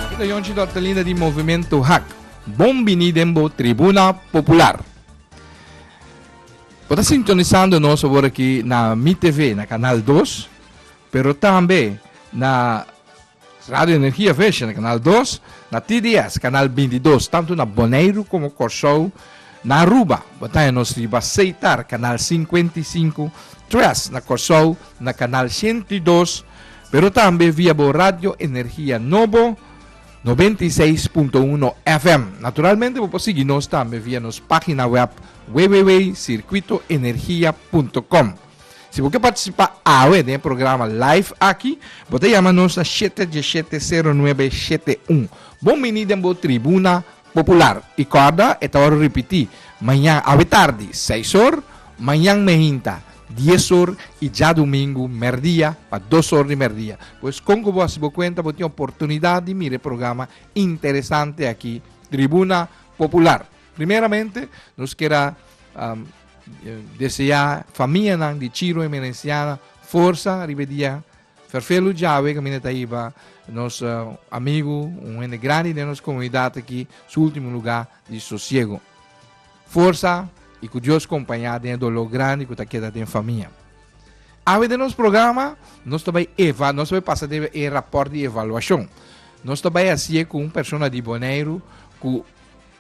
Cu ta Yonchi Dortelina di Movimento Hak. Bon bini den bo Tribuna Popular. Bo ta sintonisando nos awor aki na Mi TV, na Canal 2, pero tambe na Radio Energia Vision, na Canal 2, na TDS, Canal 22, tanto na Boneiru como Corsou, Na Aruba, bataña nos riba Seitar, Kanal sinkuenta i sinku, tres na Kòrsou, na Kanal shentu i dos, pero tambe via bo radio Energia Nobo noventa i seis punto uno FM. Naturalmente bo por sigui nos tambe via nos página wèb www.circuitoenergia punto com. Si bo ke partisipá awe den e programa live aki, bo ta yama nos na shete dieshete sero nuebe shete un. Bon bini den bo tribuna Popular, i kòrda e ta ora ripití, Mañan awe tardi, seis or, mañan mehinta, dies or, i djadumingu merdia, pa dos or di merdia. Pues kon ku bo hasi bo kuenta bo tin oportunidat di mira e programa interesante aki, Tribuna Popular? Primeramente, nos kier a deseá famianan di Chirru Emerensiana forsa riba e dia Ferfelu djawe caminda ta iba nos amigo un hende grandi den nos comunidad aki su ultimo lugar di sosiego. Forsa y cu Dios compaña den e dolor grandi cu ta keda den famia. Awe den nos programa nos ta bay eva nos ta bay pasa den e rapport di evaluacion. Nos ta bay haci'e cu un persona di Boneiru cu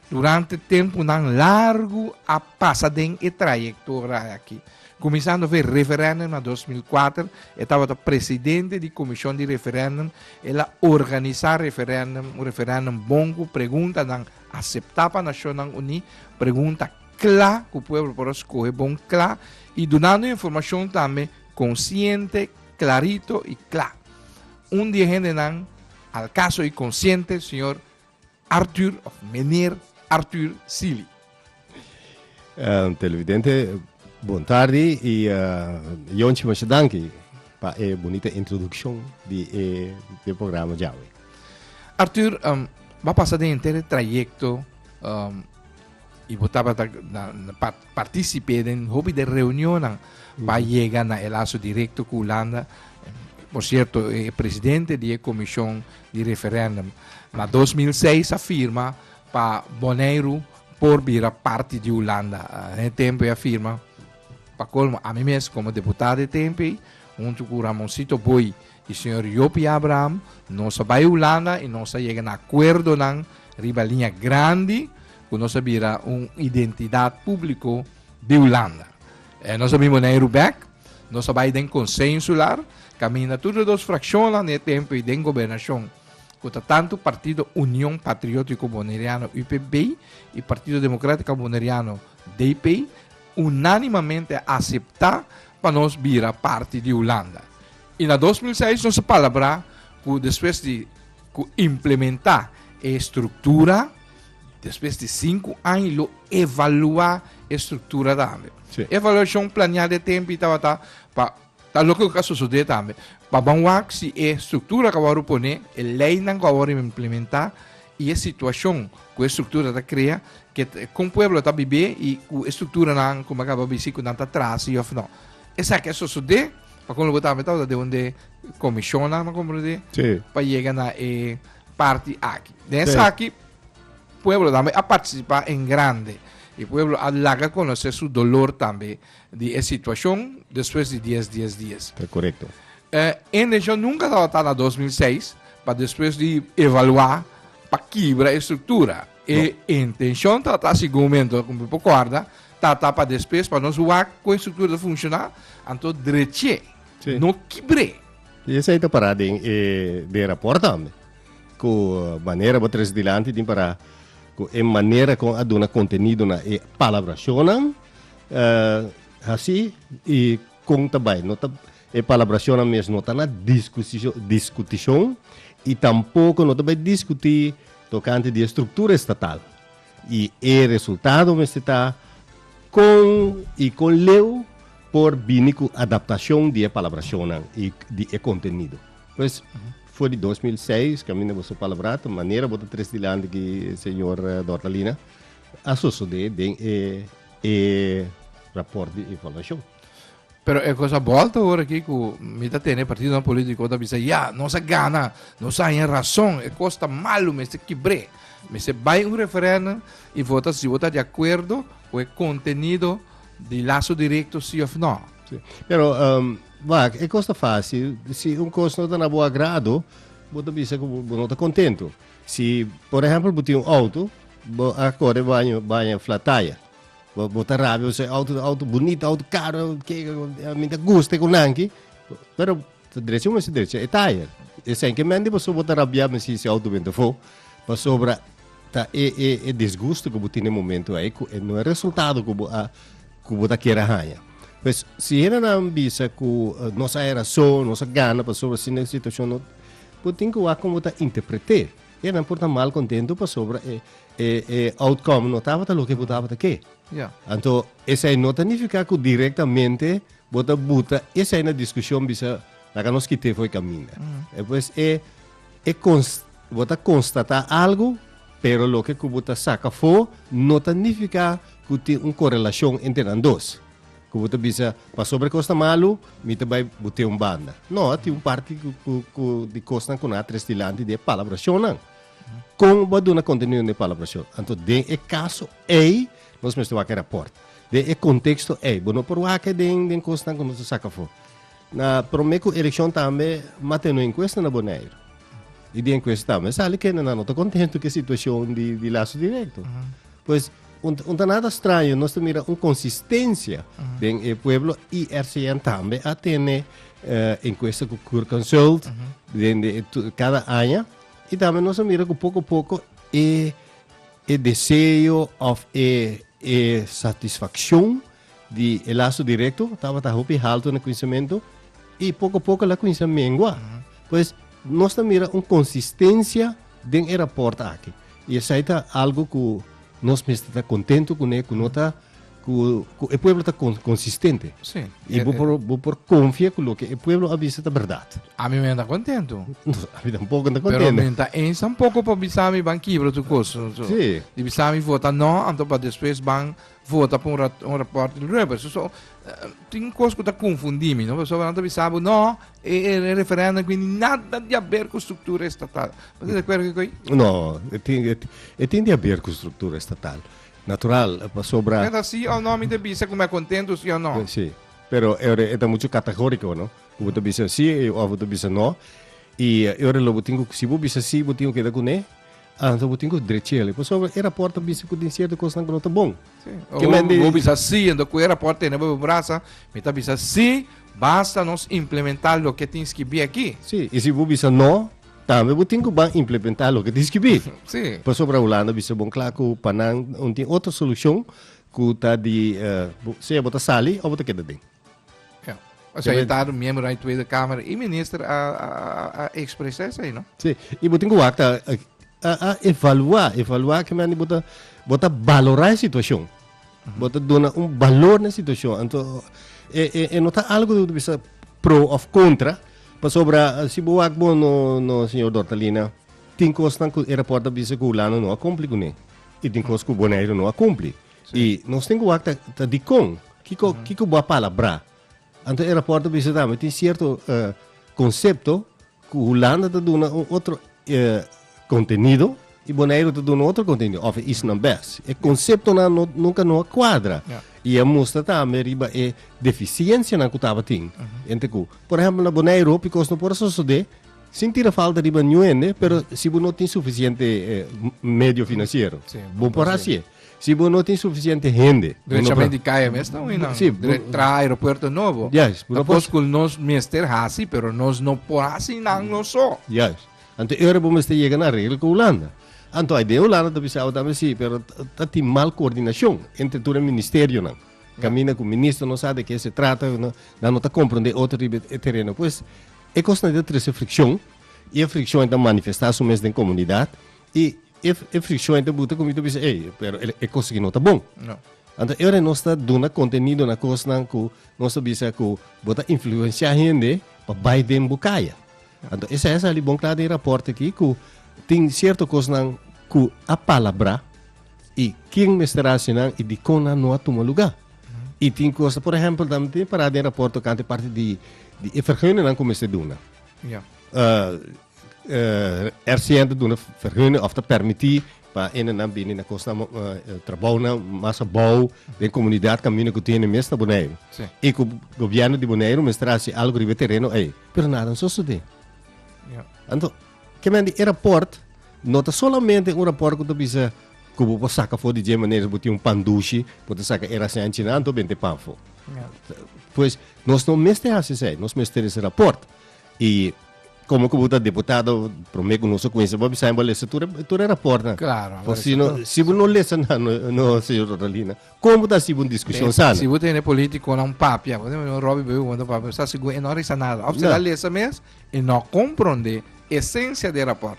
Durante tempunan largu a pasa den e trayektora aki. Kuminsando for e referèndum na dos mil kuater, e tabata presidente di komishon di referèndum, el a organisá referèndum, un referèndum bon ku preguntanan aseptá pa Nashonnan Uní, pregunta kla ku pueblo por a skohe bon kla i dunando informashon tambe konsiente, klarito i kla. Un di e hendenan al kaso i konsiente, señor. Arthur of Meneer Arthur Sealy. Televidente bon tardi y Jonchi masha danki pa e bunita introduccion di e programa djawe. Arthur bo a pasa den henter e trayecto y bo tabata na part Participé den hopi de reunionnan pa yega na e laso directo cu Hulanda. Por cierto, e presidente di e comision di referendum na dos mil seis a firma pa Boneiru por bira parti di Hulanda. Na e tempo e a firma. Pa colmo, ami mes como deputado e tempo ey, hunto cu Ramoncito Booi, I señor Job i Abraham, nos a bai Hulanda i nos a yega na akuerdonan riba liña grandi ku nos a bira un identidat públiko di Hulanda. E nos a bin bunai Rubèk, nos a bai den Konsei Insular, kaminda tur e dos frakshonnan di e tempu i den gobernashon, ku ta tantu Partido Union Patriótiko Boneriano, UPB, i Partido Demokratiko Boneriano, DP, unánimamente a aseptá pa nos bira parti di Hulanda. I na dos mil seis nos a palabrá ku despues di ku implementá e struktura, despues di sinku aña lo evaluá e struktura tambe. Sí. E evaluashon planeá den tempu tabata pa ta loke ku a sosodé tambe pa ban wak si e struktura ku a wòrdu poné, e leinan ku a wòrdu implementá i e situashon ku e struktura ta krea ke kon pueblo ta bibé i ku e strukturanan, kuma kaba bisí, ku nan ta trase of no. Esaki a sosodé pa kon lo bo ta meta bo ta debe de komishonan, me komprendé, Sí. pa yega na e parti aki. Den Sí. esaki pueblo tambe a partisipá en grande i pueblo a laga konosé su dolor tambe di e situashon despues di dies dies dies. Ta korekto. E endenshon nunka tabata na dos mil seis pa despues di evaluá pa kibra e struktura. E intenshon ta ta, segun mi anto ku mi por kòrda, ta ta pa despes pa nos wak ku e struktura ta funshoná, anto drech'é, no kibr'é. I esei ta pará den e den rapòrt tambe, ku manera bo tres dilanti tin pará ku e manera kon a duna kontenido na e palabrashonnan, hasi i Kon ta bai? No ta, e palabrashonnan mes no ta na diskusishon, diskutishon i tampoko no ta bai diskutí tokante di e struktura estatal. I e resultado mester ta kon i kon leu por bini ku adaptashon di e palabrashonnan i di e kontenido. Pues, for di dos mil seis, kaminda bo so palabrá, ta manera bo ta tres dilanti ku señor Dortalina, a sosodé den e e raport di evaluashon. Pero e kos a bolta ora aki ku mi ta tene partidonan polítiko ta bisa, ya, nos a gana, nos a haña rason, e kos ta malu, mester kibr'é. Mester bai un referèndum i vota si bo ta di akuerdo ku e kontenido di laso direkto si òf nò. Sí. Pero, um, wak, e kos ta fásil. Si un kos no ta na bo agrado, bo ta bisa ku bo no ta kontentu. Si por ehempel bo tin un auto, bo a kore baño baña flataya, bo bo ta rabia bo se auto ta auto bunita, auto karo, ke a mi ta guste ku nan ki, pero ta drecha mester drecha e taya, esei ke mente pasobra bo ta rabia me si si auto benta fo, pasobra ta e e e disgusto ku bo tin e momento ei ku e no e resultado ku bo a ku bo ta kere haña. Pues si hendenan bisa ku nos a hay rason, nos a gana pasobra si ne situashon no Bo tin ku wak kon bo ta interpret'é. E nan por ta mal kontentu pasobra e e e outcome no tabata loke bo tabata ke. Ya. Anto esei no ta nifiká ku direktamente bo ta buta esei na diskushon bisa laga nos kit'é for e kaminda. E pues e e kons bo ta konstatá algu pero loke ku bo ta saka afó no ta nifiká ku tin un korelashon entre nan dos. Ku bo ta bisa, pasobra e kosnan malu, mi ta bai bot'é un banda. No, a tin un parti ku, ku, ku di kosnan ku nan a tres dilanti di e palabrashonnan. Kon bo a duna kontenido den e palabrashon? Anto den e kaso ei, nos mester wak e rapòrt. Den e konteksto ei. Bo no por wak e den, den kosnan ku nos a saka afó. Na promé ku elekshon tambe mat'é no enkuesta na Boneiru. I den enkuesta tambe sali kendenan no ta kontentu ku e situashon di, di Laso Direkto. Pues, Un ta nada straño, nos ta mira un consistencia den e pueblo y RCN tambe a tene uh, encuesta cu Cur Consult uh -huh. den de, tu, cada año y tambe nos ta mira cu poco poco e, e deseo of e, e satisfaccion di e laso direkto tabata hopi haltu na kuinsementu i poko poko la kuinsi a mengua. Pues nos ta mira un konsistensia den e rapòrt akí i esei ta algu ku nos mester ta kontentu kuné ku no ta ku ku e pueblo ta konsistente Sí. i bo por bo por konfia ku loke e pueblo a bisa ta bèrdat. Ami me ta kontentu. Ami tampoko no ta Pero kontentu. mi no ta eens tampoko pa bisa mi ban kibra tur kos. Sí. Di bisa mi vota no, anto pa despues ban vota pa un raport di Ruebers. So, tin cos cu ta confundi mi, no? Paso nan ta bisa bo, no, e, e, e referendum cu nada di haber cu structura estatal. Paso de acuerdo cu No, e tin, e, e tin di haber cu structura estatal. Natural, pasobra... Pero si o no, mi te bisa cu me contento si o no. Si, pero e, e ta mucho categorico, no? Cu te bisa si, o te bisa no. Y, e, lo bo tin, si bo bisa si, bo tin que da cu ne, Anto bo tin ku drechele pasobra e raport ta bisa ku tin sierto kosnan ku no ta bon. Sí. O Ke bo, men di- bo bisa sí, ento ku e rapport tene bo brasa, mi ta bisa sí, basta nos implementa loke tin skibí akí. Sí, i si bo bisa no, tambe bo tin ku ban implementá loke tin skibí. Sí. Pasobra Hulanda bisa bon kla ku pa nan un tin otro solushon ku ta di eh, bo- sea bo ta sali o bo ta keda den. O sea, está do miembro na Tweede Kamer i minister a, a, a expresa esai, no? Sí, i botin ku wakta a, a evaluá, evaluá que me andi bota, bota valorá e situacion. Bota dona un valor na situacion. Anto, e, e, e no ta algo de bisa pro of contra, pa sobra, si bo wak bo no, no, señor Dortalina, tin kosnan ku e rapport a bisa ku Hulano no a kumpli kuné. I tin kos ku Bonaire no a kumpli. I nos tin ku wak ta, ta dikon. Kiko, kiko bo a palabrá? Anto e rapòrt a bisa tambe tin sierto eh, konsepto ku Hulanda ta duna un otro eh, kontenido i Boneiru ta duna otro kontenido òf e isnan bes. E konseptonan no, nunka no a kuadra. Ja. I a mustra tambe riba e defisiensianan ku tabatin. Hende ku, por ehèmpel, na Boneiru hopi kos no por a sosodé sin tira falta riba niun hende, pero si bo no tin sufisiente eh, m- medio finansiero, Sí, bo bo por por hasié. hasié. Si bo no tin suficiente hende. Derechamente di kaya mes ta win nan. Si. Tra aeropuerto nobo. Yes. Ta kos ku nos mester hasi pero nos no por hasi nan nos so. Yes. Anto e ora bo mester yega na regla ku Hulanda. Anto hay den Hulanda ta bisa abo tambe si pero ta tin mal koordinashon entre tur e ministerionan. Kaminda ku minister no sa di ke se trata nan no ta komprondé otro riba e tereno. Pues e kosnan ei ta trese frikshon i e frikshon ei ta manifestá su mes den komunidat Y e e friccion enta buta cu mi ta bisa ey pero e, e cos aki no ta bon. No. Anto e ora nos ta duna contenido na cosnan cu nos ta bisa cu bo ta influencia hende pa bay den bo caya. Anto esey a sali bon cla den e rapport aki cu tin cierto cosnan cu a palabra y ken mester haci nan y dicon nan no a tuma lugar. Y tin cos, por ehempel ta tin para den rapport tocante e parti di di e verguningnan cu mester duna. Ya. Ah, RCN ta duna vergunning of ta permiti pa ene nan bini na cos nan trabounan mas abou den comunidad caminda cu tin e mes na Boneiru. Sí. Y cu gobierno di Boneiru mester haci algo riba e tereno ey. Pero nada a sosode. Ya. Anto, ke men di e rapport no ta solamente un rapport cu ta bisa cu bo por saca for di dje manera si bo tin un pan dushi bo ta saca e rasen anchi nan anto bende pan for. Ya. Pues, nos no mester haci esey. Nos mester tin ese rapport. y como cu bo ta diputado prome cu nos a cuinsa bo a bisa y bo a lesa tur tur e rapport nan. Claro, bo a lesa tur. Pasobra si bo no lesa nan no no señor Roralina como bo ta hasi un discusion Be, sana. si bo tene politiconan un papia, bo ta mira Robby Baby cu manda un papia, bo sa sigur e no a risa nada. Of si el a No. lesa mes, e no a compronde esencia di e rapport.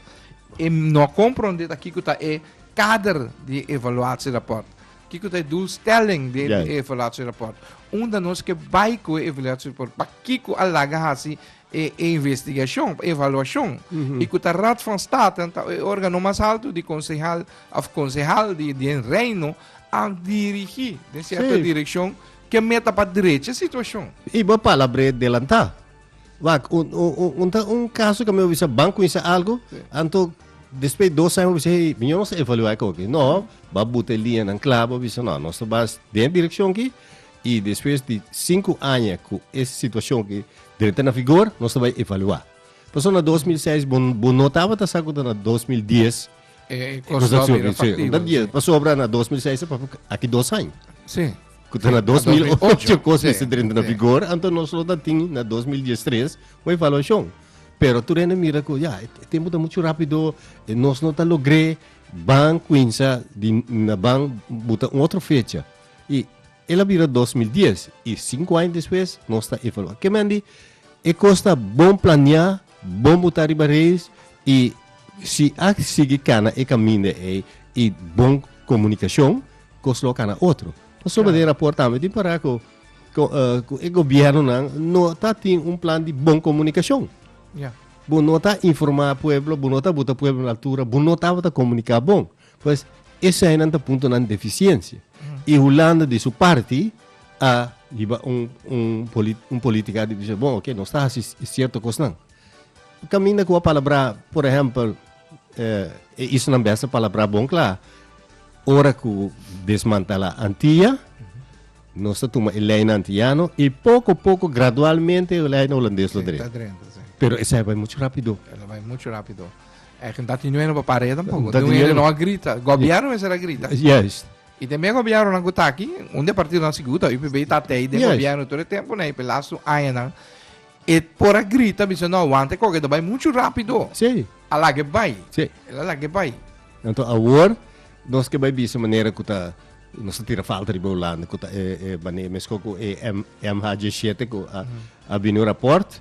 E no a compronde ta kico ta e kader di evaluatie rapport. Kiko ta e doelstelling di e evaluatierapport? Unda nos ke bai ku e evaluatierapport? Pa kiko a laga hasi e, e investigashon, e evaluashon? I ku ta Raad van State, ta e organo mas alto di konsehal òf konsehal di den Reino, a dirigí den sierto direkshon ke meta pa drecha situashon. I bo a pala bre delantá. Wak, un, un, un, un, ta un caso que me bisa banco hizo algo, anto después dos años bisa hey, mi no se evaluar con que no, va buta línea nan clavo, bisa no, no se vas de dirección que y después de cinco años con esa situación que debe estar en vigor, no se va evaluar. Por eso na 2006 bo, bo no taba ta sa que na 2010 Eh, cosa que era factible. Dat die, pas obra na 2006, pa aqui dois anos. Sim. Kuta na 2008 kosa ese drenta na vigor, anto nos lo datin na 2013 o evaluação. Pero tu rende mira ko ja, tempo ta mucho rápido, nos no ta logré ban Quinsa di na ban buta un otro fecha. Y ela vira 2010 y cinco años después nos ta evaluar. Que mendi, e costa bon planear Bon bo ta riba reis y si a sigui cana e caminda ey y bon comunicacion cos lo a cana otro. Pasobra den raport tambe tin para cu cu e gobiernonan no ta tin un plan di bon comunicacion. Bo no ta informa pueblo, bo no ta bota pueblo na altura, bo no tabata comunica bon. Pues eseinan ta puntonan di efisiensia. I Hulanda di su parti a hiba un, un, poli, un politika di dise, bon, ok, nos ta hasi sierto kosnan. Kaminda ku a palabra, por ehempel, eh, e isonan bes a palabra bon kla, ora ku desmantala Antia, nos ta tuma e lei na antiano i poko poko, gradualmente, e lei na hulandes lo Sí, dren. ta drenta, sí. Pero esei bai mucho rapido. Ela bai mucho rápido. Dati nue no papá reda tampoco. Dati nue no a grita. Gobierno mester a grita. Juist. Y te mea gobiernonan cu ta aki, un de partidonan sigur ta UPB y ta tey den gobierno tur e tempo na e pe lastu añanan. E por a grita biseo no aguanta e coke, ta bay mucho rápido. Sí. A laga e bay. Sí. El a laga e bay. Anto awor nos ke bay bisa manera cu ta, nos ta tira falta riba Hulanda cu ta e, e, mane, mesco cu e MH7 cu a bini un rapport.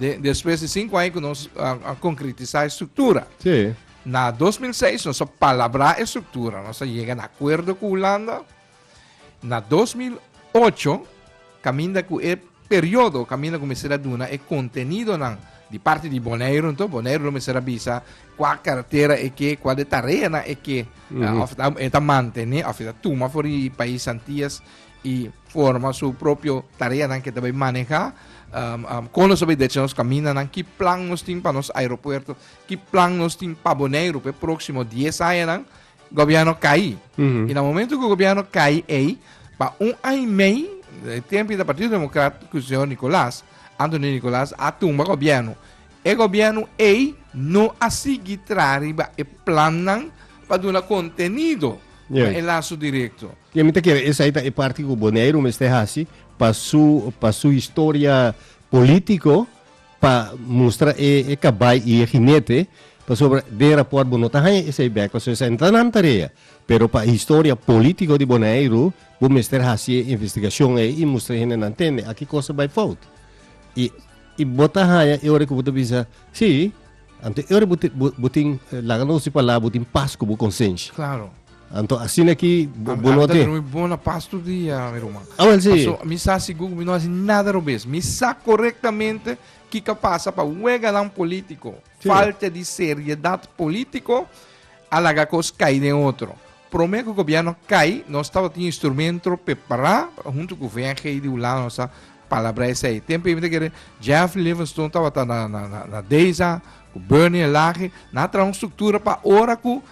Despues di sinku aña ku nos a konkretisá e struktura. Sí. Na 2006 nos a palabrá e struktura, nos a yega na akuerdo ku Hulanda. Na 2008, kaminda ku e periodo, kaminda ku mester a duna e kontenidonan di parti di Boneiru, nto Boneiru lo mester a bisa kua kartera e ke, kua de tareanan e ke, of e ta mantene, of e ta tuma for di pais Antias. y forma su propio tareanan ke ta bay maneha kon nos ta bay decha nos kamindanan, ki plan nos tin pa nos aeropuerto, ki plan nos tin pa Boneiru p'e proksimo dies añanan, gobièrnu kai. Y na momento ku gobièrnu kai ei, pa un aña y mei, e tempo di Partido Democrat ku señor Nicolas, Anthony Nicolas, a tumba gobièrnu. E gobiernu ei no a sigui traha riba e plannan pa duna contenido na e laso directo. Yen mi ta kere esai ta e parti cu Boneiru mester haci pa su pa su historia politico pa mustra e e cabai y e ginete pasobra den rapport bo no ta haya esai bek pasobra esai no ta nan tarea pero pa historia politico di Boneiru bo mester haci e investigacion ei y mustra e hendenan tende aki cosa bai fout y I bo ta haña e ora ku bo ta bisa, Sí, anto e ora bo tin, bo tin, laga nos di palabra, bo tin pas ku bo konsensha. Klaro. Anto asina ki bo no tin. Ami ta drumi bon na pas tur dia, mi ruman. Awel si. Paso mi sa sigur ku mi no hasi nada robes. Mi sa korektamente kiko pasa pa weganan polítiko. Falta di seriedat polítiko a laga kos kai den otro. Prome ku gobièrnu kai nos tabatin instrumentro prepará huntu ku VNG di Hulanda nos a palabrá esei. Tempu ei mi ta kere Jeff Livingston tabata na na na na Deza ku Bernie Lage nan a traha un struktura pa ora ku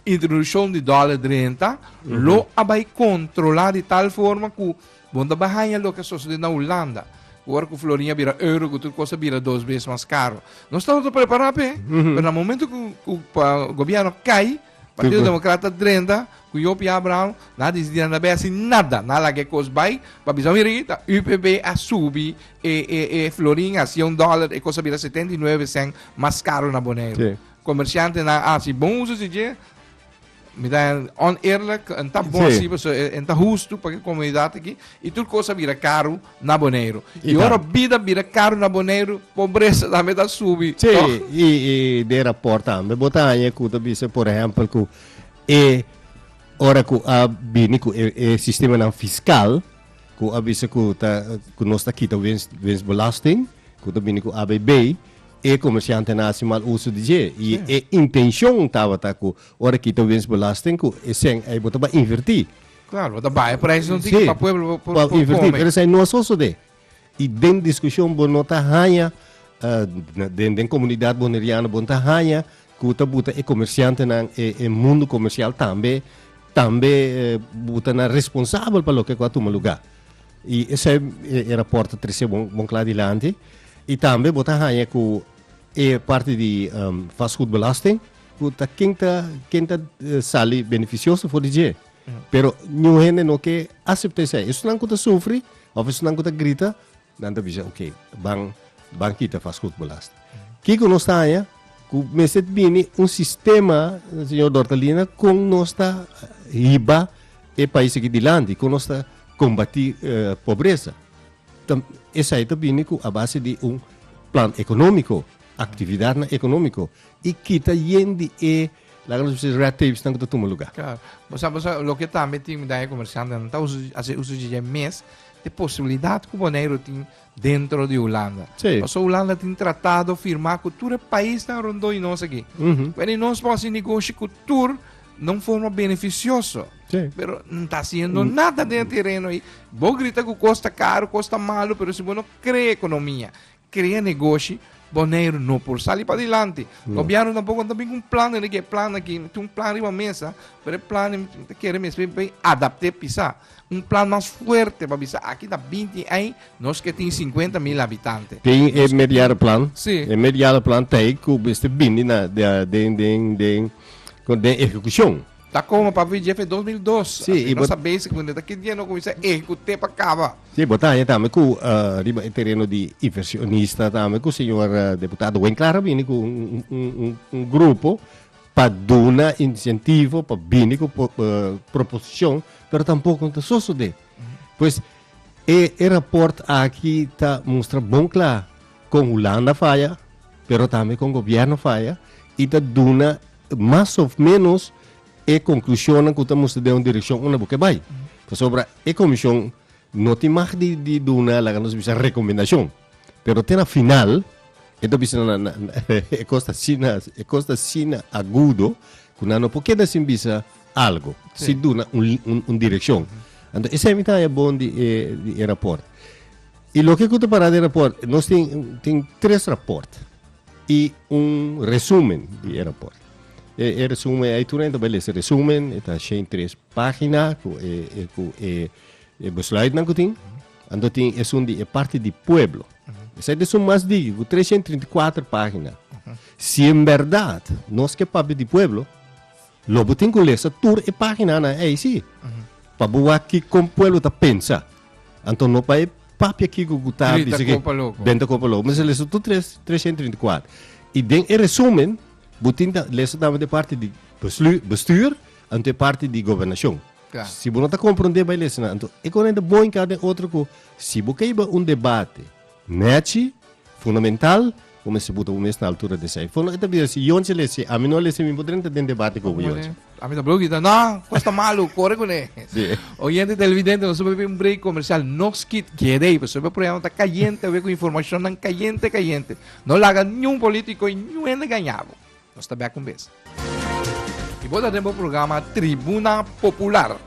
introdushon di dòler drenta lo a bai kontrolá di tal forma ku bo no ta bai haña loke a sosodé na Hulanda ku ora ku florin a bira euro ku tur kos a bira dos bes mas karo. Nos tabata prepará p'e pero na momentu ku ku pa gobièrnu kai Partido Democrata ta drenta cu yo Pia Abraham na dici di na bay haci nada, na laga e cos bay, pa bisa mi riba ta UPB a subi e, e, e florin a cien dollar, e cos a bira setenta y nueve cent mas caro na Bonaire. Sí. Comerciantenan a haci bon uso di dje, mi ta oneerlijk, en ta bon Sí. así, paso en ta justo pa e comunidad aquí, y tur cos a bira caro, na Boneiru. I ora Ikan. bida bira karu na Boneiru, pobresa tambe ta subi. Sí, tòg? i, i den rapport tambe bo ta haña ku ta bis'e, por ehèmpel, ku e ora ku a bini ku e e sistemanan fiskal, ku a bisa ku ta ku nos ta kita wins winstbelasting, ku ta bini ku ABB, e komersiantenan a hasi mal uso di dje. I e intenshon tabata ku ora kita winstbelasting ku esèn ei bo ta bai invertí. Claro, bo ta baya por ahí, no tin pa pueblo por pa invertir. Pero esai no a sosode. Y den discusión bo no ta haña, uh, den, den comunidad boneriano, bo ta haña cu ta buta e comerciantenan, e, e mundo comercial tambe, tambe eh, buta na responsabel pa loke cu a tuma lugar. Y esai e, e rapport trece bon, bon cla dilanti. Y tambe bo ta haña cu e parte di um, vastgoedbelasting, cu ta ken ta, ken ta eh, sali beneficioso for di dje. Pero ñu hende no ke aseptá esei. Esunnan ku ta sufri of esunnan ku ta grita, nan ta bisa, ok, ban ban kita fas hutbelasting. Kiko nos ta haña ku mester bini un sistema, señor Dortalina, kon nos ta hiba e pais aki dilanti, kon nos ta kombatí pobresa? Ta esei ta bini ku a base di un plan ekonómiko, aktividatnan ekonómiko i kita yen di e Laga nos bisa e red tapes nan ku ta tuma luga. Claro. Bo sa, bo sa, loke tambe tin daño komersiante nan ta uso, hasi uso dje dje mes di posibilidat ku Boneiru tin dentro di Hulanda. Sí. Paso Hulanda tin tratado firmá ku tur e paisnan rondó di nos aki. Mhm. Bueno, i nos por hasi negoshi ku tur na un forma benefisioso. Sí. Pero no ta haciendo Mm. nada den e terreno ahí. Bo grita cu costa caro, costa malo, pero si bo no crea economía, Krea negoshi Boneiru no por sali padilanti. Gobièrnu tampoco no ta bin ku un plan dentro di e plan aki. Mi tin un plan riba mesa, pero e plan mi ta kere mi esaki bai adapt'é p'esa. Un plan mas fuerte pa bisa aki ta binti ei, nos ke tin sinkuenta mil habitante. Tin e mediano plan. Sí. E mediano plan ta ei ku mester bini na den den den den ehekushon. Ta como pa vigente dos mil dos. Sí, Asina i bo- sa basic mende ta kit dje no comienza ejecute pa caba. Sí, bo ta haña tambe cu eh, riba e tereno di inversionista tambe cu señor eh, deputado Wayne Clara a bini cu un, un, un, un, un grupo pa duna incentivo pa bini cu po- eh, proposición pero tampoco no ta sosode. Pues e, e rapport aki ta mustra bon cla con Hulanda faya pero tambe con gobierno faya y ta duna Mas of menos e conclusionnan cu ta moestra den un direccion unda bo ke bay. Pasobra e comision no tin mag di di duna laga nos bisa recomendacion. Pero te na final e ta bisa na na e cos ta asina e cos ta asina agudo cu nan no por keda sin bisa algo, Sí. sin duna un un un direccion. Anto esemi ta haya bon di e di e rapport. Y loke cu ta para den rapport nos tin tin tres rapport. i un resumen di e raport. E, e resumen, ai tur enta beles resumen, e ta shen tres pagina ku e, e, ku e, e besluit nan ku tin. Ando tin e sun di e parti di pueblo. Esa de sun mas digi, ku 334 pagina. Si en verdad nos ke papia di pueblo, Lo bo tin ku lesa tur e paginanan eisi pa bo wak kikon pueblo ta pensa. Anto no bai papia ki ku ku ta bisa ki Benta Kopa Loko. Mester lesa tur tres, tresenta i trinta i kuater. I den e resumen bo tin ta lesa tambe den e parti di bestuur anto e parti di gobernashon. Si bo no ta komprondé bai lesa nan. Anto e kuneranta bon i kaba den otro ku si bo kaiba un debate. Neci, fundamental, bo mester buta bo mes na altura di esei. Fono e ta bisa si Yonche a lesi, ami no a lesi, mi no podré entra den debate con bo Yonche. Ami ta broki, ta no, cos ta malo, core cu ne. Sí. Oyente televidente, nos a bay un break comercial, no skit, keda ey, pasobra e programa ta cayente awe cu informacionnan cayente, cayente. No laga niun politico y niun hende gañabo. Nos ta bèk un bes. Y bo ta den bo programa Tribuna Popular.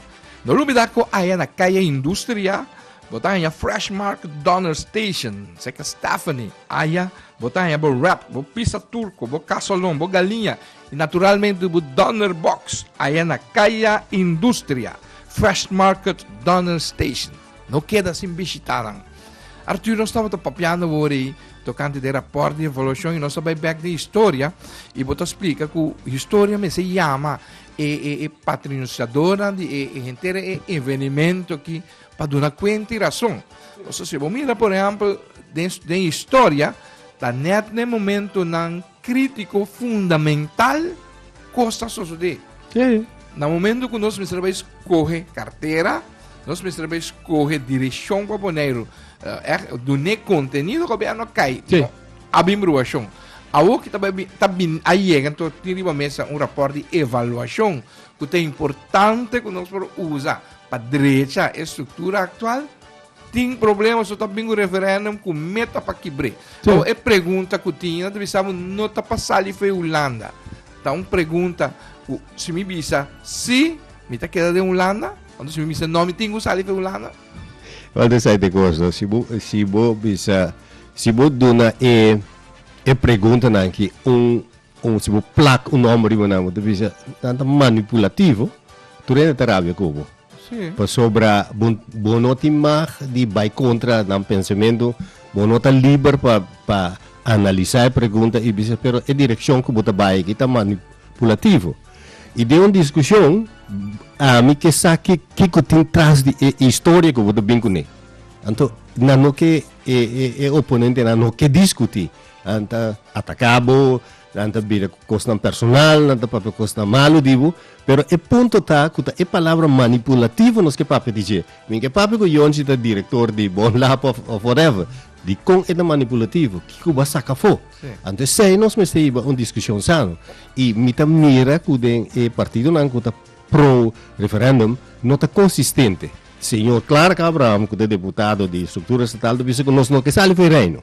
No lubida cu aya na Calle Industria bo ta haya Fresh Mark Donner Station, seca Stephanie. Aya bo ta haya bo wrap, bo pizza turco, bo casolon, bo galiña y naturalmente bo Donner Box. Aya na Calle Industria, Fresh Market Donner Station. No keda sin bishita nan. Arthur, nos tabata papiando wori tocante den raport di evolucion y nos ta bay bek den historia y bo ta splica cu historia mester yama e e e patrinunciadornan di e e henter e evenimento aki pa duna cuenta y rason. Entonces si bo mira por ehempel den den historia ta net na e momentonan Crítico fundamental cos ta sosode. Na momento cu nos mester bay scoge cartera, nos mester bay scoge direccion pa Boneiru, eh, dune contenido cu a bia no cay. A bin bruacion. Awo ki ta bay, ta bin, a yega anto tin riba mesa un rapport di evaluacion cu ta importante cu nos por usa pa drecha e structura actual. Tin problema so ta bin ku referendum ku meta pa kibr'é. Sí. Awo e pregunta ku tin na ta bisa bo no ta pa sali for e Hulanda. Ta un pregunta ku si mi bisa si, mi ta keda den Hulanda? Anto si mi bisa no, mi tin ku sali for e Hulanda? Well, dis ai te kos, no? Si bo, si bo bisa, si bo duna e, e preguntanan ki un Como si bo plak un nomber riba nan bo ta bisa nan ta manipulativo tur hende ta rabia cu bo. Sí. Pasobra bo, bo no tin mag di bay contra nan pensamento, bo no ta liber pa, pa analiza e pregunta y bisa pero e direccion cu bo ta bay aki ta manipulativo. Y den un discusion ami ke sa ki, kico tin tras di e historia cu bo ta bin cune. Anto nan no ke, e, e, e oponentenan no ke discuti. Nan ta ataká bo, nan ta bira ku kosnan personal, nan ta papia kosnan malu di bo, pero e punto ta ku ta e palabra manipulativo nos ke papia di dje. Mi ke papia ku Yonchi ta direktor di Bon Lab òf òf whatever, dikon e ta manipulativo? Kiko bo a saka afó? Anto esei nos mester hiba un diskushon sano. I mi ta mira ku den e partidonan ku ta pro referèndum no ta konsistente. Señor Clark Abraham ku ta deputado di struktura estatal ta bisa ku nos no ke sali for e reino.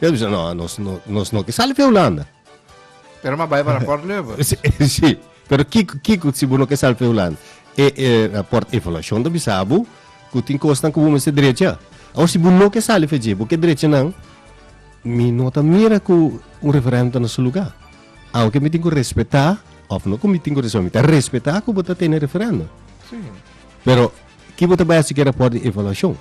Yo bisa, no, nos no, nos no. Sali pa Hulanda. Pero ma bai para Port Leuven. Sí, sí. Pero kiko, kiko, si bu no ke sali pa Hulanda. E, e, na Port Evaluation ta bisa bu, ku tin kosnan ku bu mester drecha. Awor, si bu no ke sali pa dje, bu ke drecha nan, mi no ta mira ku un referendum ta na su lugá. Aunke mi tin ku respetá, òf no ku mi tin ku respetá, mi ta respetá ku bo ta tene referendum. Sí. Pero, ki bo ta bai hasi ku e rapòrt di evaluashon?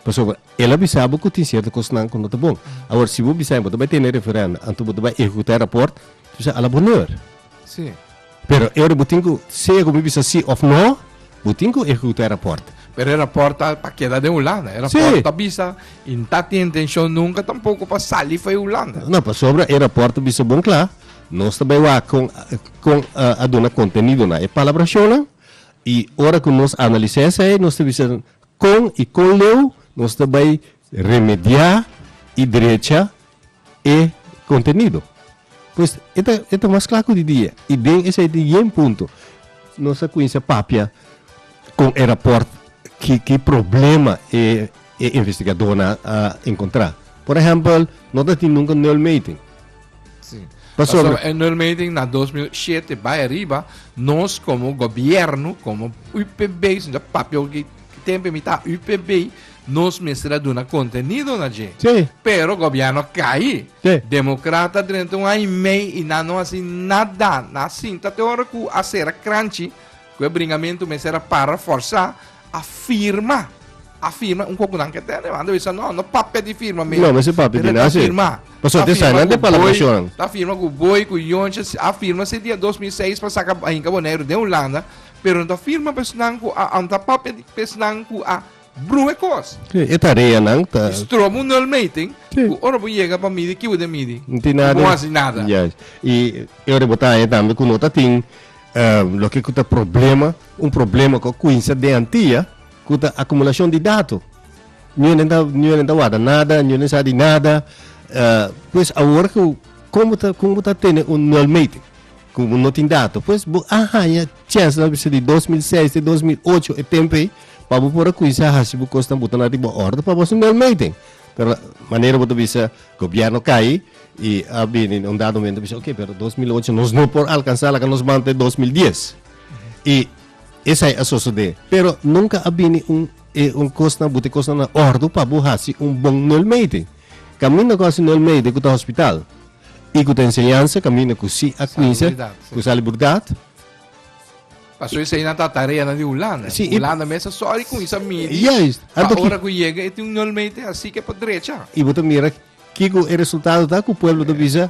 Pasobra el a bisa bo ku tin sierto kosnan ku no ta bon. Awor si bo bisa bo ta bai tene referendo anto bo ta bai ehekutá e rapòrt, entonces a la bonor. Sí. Pero e ora bo tin ku sea ku mi bisa sí òf no, bo tin ku ehekutá e rapòrt. Pero e rapòrt ta pa keda den Hulanda. E rapòrt Sí. ta bisa i no ta tin intenshon nunka tampoko pa sali for e Hulanda. No, pasobra e rapòrt a bisa bon kla, nos ta bai wak kon kon a a duna kontenidonan e palabrashonnan i ora ku nos analisá esei nos ta bisa Kon i kon leu nos ta bai remediá i drecha e kontenido? Pues e ta e ta mas kla ku di dia i den esei tin yen punto nos a kuminsá papia kon e rapòrt ki ki problema e e investigadónan a enkontrá. Por ehèmpel no ta tin nunka nul meting. Sí. Paso, Paso en el meeting na 2007 bij arriba, nos como gobierno, como UPB, sinda papio que tempo mitad UPB, nos mestra duna contenido na je. Sí. Pero gobierno caí. Sí. Democrata durante un año y medio y na no hace nada. Na cinta te ora cu acera crunchy. Cu e bringamentu mester a para forsa a firma, a firma un coco nan que tene, man, bisa no, no papia di firma me. No, mester papia di nasi. Firma. Paso te sai nan de para presión. Ta firma cu boy, cu yonche, a firma se dia 2006 pa saca hinca bonero de Holanda, pero ta firma pesnan cu a, ta papia di pesnan cu a Bruhe kos. Sí, e tareanan ta. Y strobo un nulmeting. Sí. Ku ora bo yega pa midi kibo den midi. No tin nada. Y bo hasi nada. Yes. Y e ora bo ta haña tambe ku no ta tin loke ku ta problema, un problema ku a kuinsa den antia ku ta akumulashon di dato. Niunen ta niunen ta warda nada, niunen sa di nada. pues awor ku kon bo ta kon bo ta tene un nulmeting? Ku bo no tin dato, pues bo a haña chèns labi bisa di dos mil seis te dos mil ocho, e tempu ei, pa bo por a kuminsá hasi bo kosnan, bo ta na riba òrdu pa bo hasi un bèl meten. Pero manera bo ta bisa gobièrnu kai i a bini na un dado momento bisa oke, pero dos mil ocho nos no por alkansá, laga nos manda te dos mil dies. I esei a sosodé. Pero nunka a bini un e un kosnan bo te kosnan na òrdu pa bo hasi un bon nel meten. Kaminda ku hasi nel meten ku ta hospital. I ku ta enseñansa kaminda ku si a kuinse ku salibridad. Paso esei nan ta tareanan di Hulanda. Si, i- Hulanda mes a sòri ku isa midi Juist. pa Anto ki- ora ku yega e tin un nul meter asi ke por drecha. I bo ta mira kiko e resultado ta ku pueblo ta bisa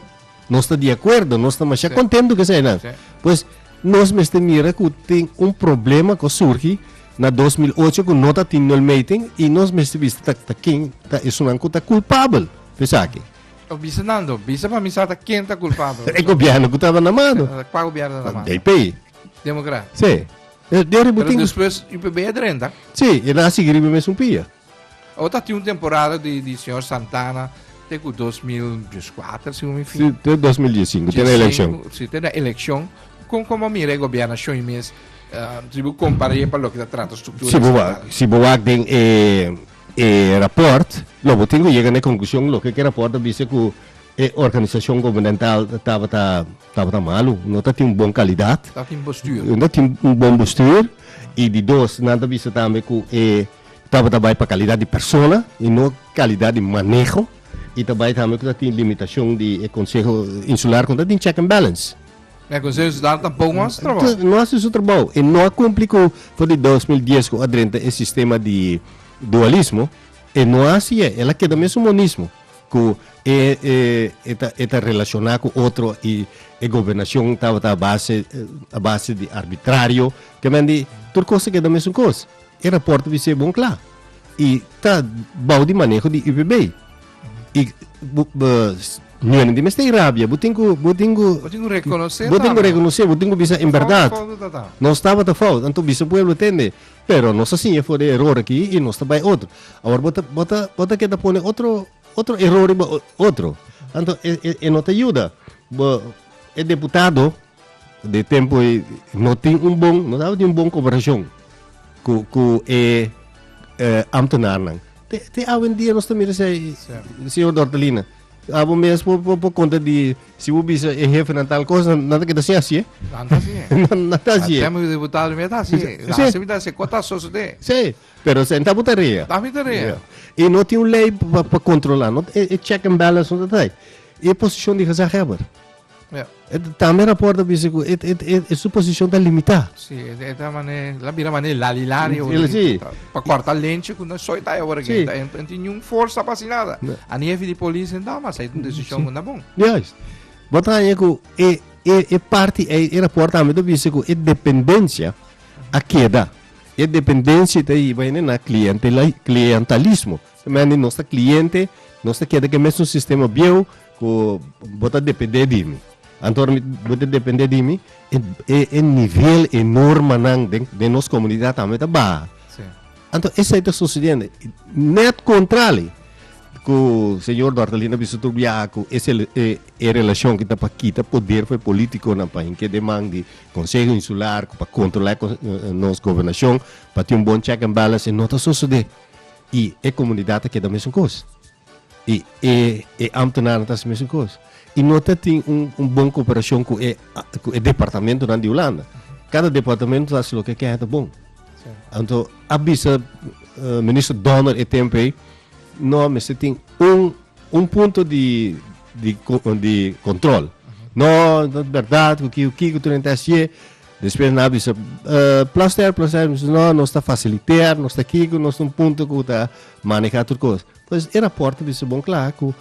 nos ta di akuerdo, nos ta masha Sí. kontentu ku eseinan. Sí. Pues nos mester mira ku tin un problema ku a surgi na dos mil ocho ku no ta tin nul meting i nos mester bisa ta ta ken ta esunnan ku ta kulpabel pa esaki. O bisa Nando, bisa pa mi sata ken ta culpabel. E gobierno ku taba na mano. Kwa gobierno na mano? DP. Democrat. Sí. E, Pero ributin. después UPB e drenta. Sí, e na seguir riba mesmo pia. O ta ti un temporada di, di señor Santana te ku 2014, según mi fin. Sí, te 2015, tiene elección. Sí, tiene elección. Con como mira el gobierno hoy mes, uh, si bu comparé para lo que ta trata estructura. Si bu, si bu den eh, e raport lo bo tin ku yega na e konklushon loke ku e raport a bisa ku e organisashon gubernaental tabata tabata malu no ta tin un bon kalidat Ta tin bestuur. no ta tin un bon bestuur i di dos nan ta bisa tambe ku e tabata bai pa kalidat di persona i no kalidat di maneho i ta bai tambe ku ta tin limitashon di e konseho insular ku no ta tin check and balance. E Konseiho Sudaner tampoco no haci su trabao. No haci su trabao y no a cumpli cu for di dos mil dies cu a drenta e sistema di dualismo, e no haci e, el a keda mesun monismo cu e e ta relaciona cu otro y e gobernacion tabata a base a base di arbitrario, kemen di tur cos a keda mesun cos. E raport a bis'e bon cla y ta bao di maneho di UPB. Y bu, bu, no es di mester rabia. Bo tin ku, bo tin ku, Bo tin ku rekonosé bo tin ku tambe. rekonosé, bo tin ku bisa en Fout, berdad. fout no tabata. Nos tabata fout, anto bisa pueblo tende. Pero nos a siña for di e eror aki i nos ta bai otro. Awor bo ta, bo ta, bo ta keda pone otro, otro eror riba o- otro. Anto e, e, e no ta yuda. Bo, e deputado, De tempo ei no tin un bon, no tabatin un bon cooperacion cu, cu e ambtenarnan. Te, te awendia nos ta mira esei, señor Dortelina. Abo mes por, por, por conta di, si bo bisa e hefenan tal cos, nan, nan ta keda sin haci'e. Nan ta haci'e. nan, nan ta haci'e. Asem e diputado mia ta haci'e. Si, si. Asem mi ta haci'e. Con ta sosode? Si, pero esei ta bo tarea. Ta mi tarea. I no tin un ley pa, pa controla. No, e, e check and balance no ta ta ei. I e posicion di gezaghebber. Yeah. E tambe rapport a bisa ku e, e, e, e su posishon ta limitá. Sí, e ta mané, la bira mané lali lari o Ele sí. pa korta lenche ku na soy ta ora Sí. genta. En en tiñun forsa pa si nada. Nee. A ni hefi di polis en dama, sa un desishon ku na bon. Juist. Bot haña ku e, e, e parti, e, e rapport tambe ta bisa ku e dependensia a keda. E dependensia ta hiba ene na klientela, klientalismo. Sementi nos ta kliente, nos ta keda ke mesun sistema bieu ku bo ta dependé di mi. Anto ora bo ta dependé di mi, e e nivel, e normanan den den nos komunidat tambe ta baha. Anto esei ta susedendo. Nèt kontrali ku señor Dortalin a bisa tur biaha ku e e relashon ku ta pa kita poder for e polítikonan pa hinka den man di Konseho Insular ku pa kontrolá nos gobernashon, pa tin un bon check and balance, no ta susedé. i e komunidat a keda mesun kos. I e e ámtenanan ta hasi mesun kos. I no ta tin un un bon koperashon ku e ku e departamentonan di Hulanda. Kada departamento ta hasi loke kèn ta bon. Anto a bisa Minister Donner e tempu ei no a mester tin un un punto di di di kontrol. No, no bèrdat ku kiko tur hende ta hasié. Despues nan a bisa, Plaster, plaster, mi bisa, No, nos ta fasiliter, nos ta kiko, nos ta un punto ku ta maneha tur kos. Pues e rapòrto bisa bon kla ku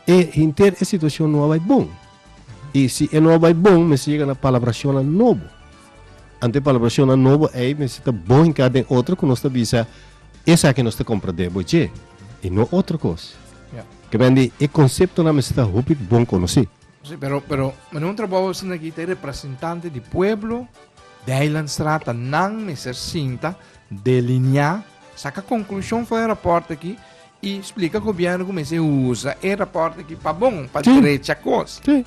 e henter e situashon no a bai bon. I si e no a bai bon, mester yega na palabrashonnan nobo. Anto e palabrashonnan nobo ei mester ta bon hinká den otro ku nos ta bisa esaki nos ta komprendé bo dje i no otro kos. Kemen di e konseptonan mester ta hopi bon konosí. Sí, pero, pero, mane un trabajo así na guita representante di pueblo de Eilandstraat, nan me ser sinta, delinear, saca conclusión voor rapport aquí y explica gobierno como se usa e rapport aquí pa bon, pa sí. derecha cos. Sí.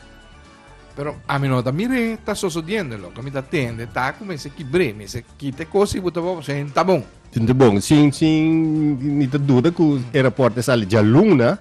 Pero a mi no ta mire, está sucediendo lo que me está tende, está como ese quibre, me se quite cosas y puta bobo, se está bon. Está bon, sin, sin, ni te duda que el reporte sale ya luna,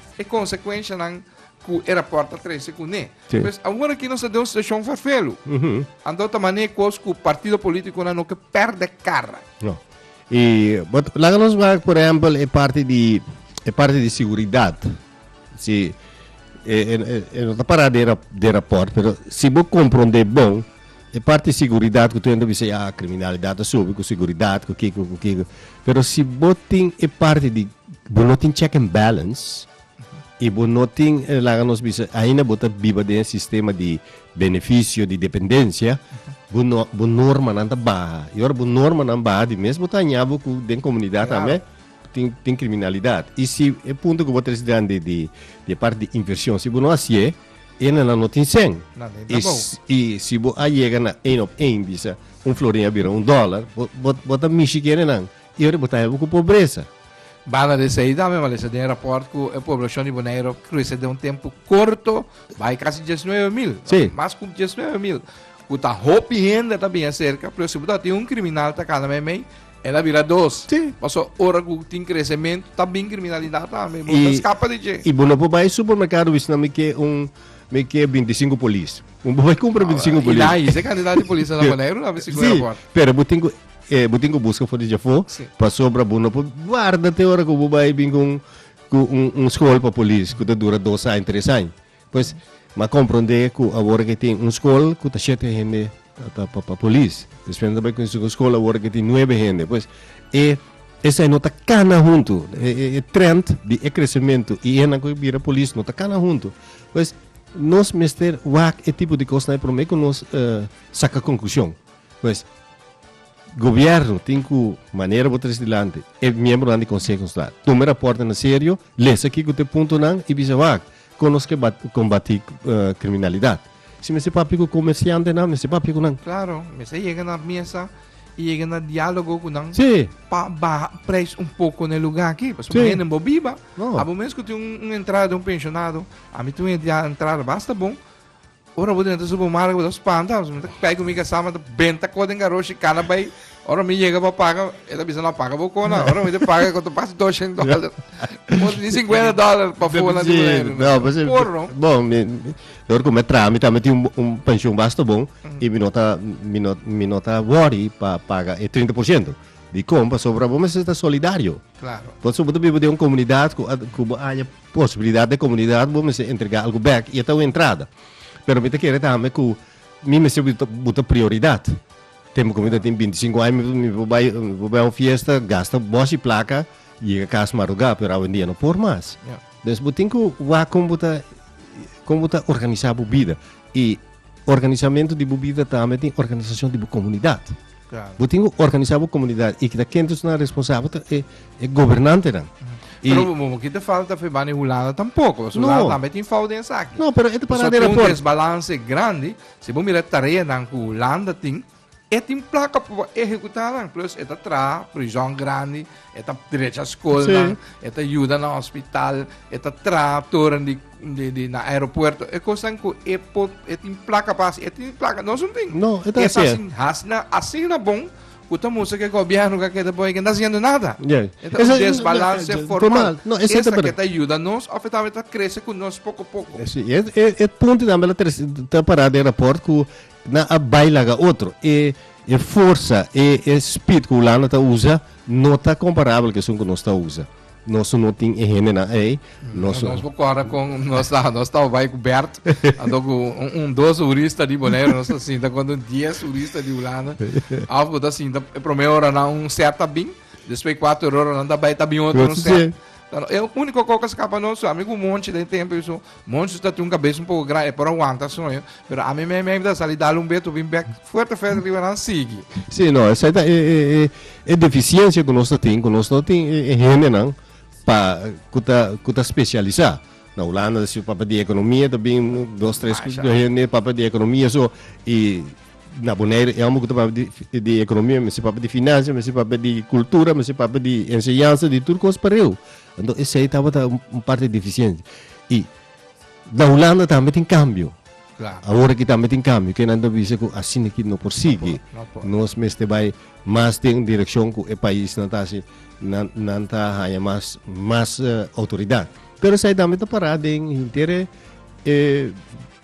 e konsekuenshanan ku e rapòrt ta trese kuné. Sí. Pues awor aki nos ta den un situashon farfelu. Anto ta mané kos ku partido polítikonan no ke pèrdè kara. No. I bot laga nos wak por ehempel e parti di e parti di siguridat. Si e e e no ta pará den rap- den rapòrt pero si bo komprondé bon E parti siguridat ku tuendo bisa ya kriminalidat a subi ku siguridat ku kiko ku kiko pero si bo tin e parti di bo no tin check and balance i bo no tin laga nos bisa ainda bo ta biba den e sistema di benefisio di dependensia bo no bo normanan ta baha i ora bo normanan baha di mes bo ta haña bo ku den komunidat tambe tin tin kriminalidat i si e punto ku bo ta disdandi di di e parti di invershon si bo no hasié. E nan no tin sen. I, i si bo a yega na één op één bisa un florin a bira un dólar, bo, bo, bo ta mishi ku enenan i ora bo ta hebe ku pobresa. Banda di esei tambe, Malesa, den e rapòrt ku e poblashon di Boneiru a krese den un tempu korto bai kasi dies nuebe mil, mas ku dies nuebe mil, ku ta hopi hende ta bini aserka, pero si bo ta tin un kriminal ta kana meimei, El a bira dos. Sí. Paso ora cu tin crecemento ta bin criminalidad tambe. Bo ta scapa di dje. Y bo no por bay supermercado y sna mi ke un mi ke 25 polis. Bo no por bay cumpra 25 polis. Y na hise cantidad di polis na Boneiru na bisi cu aeroport. Sí. Pero bo tin cu eh bo tin cu busca for di dje afo. Sí. Pasobra bo no por guarda te ora cu bo bay bin cu un cu un school pa polis cu ta dura dos aña tres aña. Pues m'a compronde cu awor que tin un scol cu ta shete hende ta pa pa polis. Despues nan ta bay cu tin un scol awor que tin nuebe hende. Pues e esai no ta cana hunto. E e e trend di e crecemento y enan cu bira polis no ta cana hunto. Pues nos mester wak e tipo di cos nai prome cu nos saca conclusion. Pues gobierno tin cu manera bo tres dilanti e miembronan di conseho escolar tome raportonan serio, lesa kico ta e puntonan y bisa wak. Con nos ke combati criminalidad. Si mester papia cu comerciantenan, mester papia cu nan. Claro, mester yega na mesa y yega na dialogo cu nan. Sí. Pa baha prijs un poco n'e lugar aki. Pasobra Sí. hende bo biba. No. Abo mes cu tin un, un entrada den un pensionado. Ami tin un entrada basta bon. Ora bo ta benta supermarket bo ta spanta, mi ta kpai ku mi kasama ta benta ko den garoshi kana bai. Ora mi yega pa paga, e ta bisa no a paga bo ko na. Ora mi ta paga ko ta bas doshen dollar. Bo tin sinkuenta dollar pa fula di manera. No, pues por no. Bon, mi dor ku me traha mi ta mi tin un penshon basta bon i mi no ta mi no mi no ta wori pa paga e trinta por shento. Dikon? Pasobra bo mester ta solidario. Klaro. Pasobra bo ta biba den un komunidat ku bo aña posibilidat den komunidat bo mester entregá algu bèk i e ta un entrada. Pero mi ta kere tambe ku mi mester bo ta prioridat. Tempu ku mi ta tin binti sinku aña mi por bai mi por bai un fiesta gasta bòs i plaka yega kas marugá pero awendia no por mas. Des bo tin ku wak kon bo ta kon bo ta organisá bo bida i organisamentu di bo bida tambe tin organisashon di bo komunidat. Bo tin cu organisa bo comunidad y kita ken ta na responsabel ta e, e gobernantenan. Y, Pero bo mo kita falta fe bani Hulanda tampoco. So Hulanda No. tambe tin fout den esaki. no, pero e ta So para tin un rapport. desbalance grandi. Si bo mira tareanan cu Hulanda tin, e tin placa pa bo ehecutanan. Plus e ta traha prison grandi, e ta drecha Sí. scolnan, e ta yuda na hospital, e ta traha toren di di, di na aeropuerto. E kosan ku e po e tin plaka pa e tin plaka no sun tin. No, e ta Esa sin hasna asina bon ku ta musa ke gobierno ka keda boy ke na siendo nada. Yeah. Eta un desbalance no, formal. No, esa Esa ke ta ayuda nos of eta ta krese ku nos poko poko. Si, e, e, e punto tambe la tres, ta para de rapport ku na a baila ga otro. E, e forsa, e, e speed ku Hulanda ta usa no ta comparable ke sun ku nos ta usa. Nos no tin e hendenan ei. Nos, nos por corre con, nos está, nos está bij con Bert. Ando con un, un dos turista di Bonaire, nos está sinta con un diez turista di Holanda. Af go está sinta, e primer hora na un set tabin, después cuatro hora na está bij tabin otro un set. Pero el único cosa que escapa nos, a mí con monchi de tiempo, yo so, Moncho ta tin un kabes un poko gran, e por a wanta soño, pero ami me me ta sali dal un beto bin bek fuerte fuerte riba nan sigui. Sí, no, esai ta e, e, e, e deficiencia ku nos ta tin, ku nos no tin e, e hendenan pa ku ta ku ta specialisa. Na Hulanda ta si papa di ekonomia ta bin dos tres Masha. do hende papa di ekonomia so i na Boneiru e homber ku ta papa di, di ekonomia mester papa di finansia, mester papa di kultura, mester papa di enseñansa, di tur kos pareu. Enton esei tabata un parti deficiente. Y na Hulanda tambe tin cambio. Claro. Ahora aquí también tiene cambio, que nan dice que así aquí no por sigue. No, no por. Nos meste bay más den dirección que el país nan ta así, nan, nan ta haya más, más uh, autoridad. Pero zij también ta pará den hintere eh,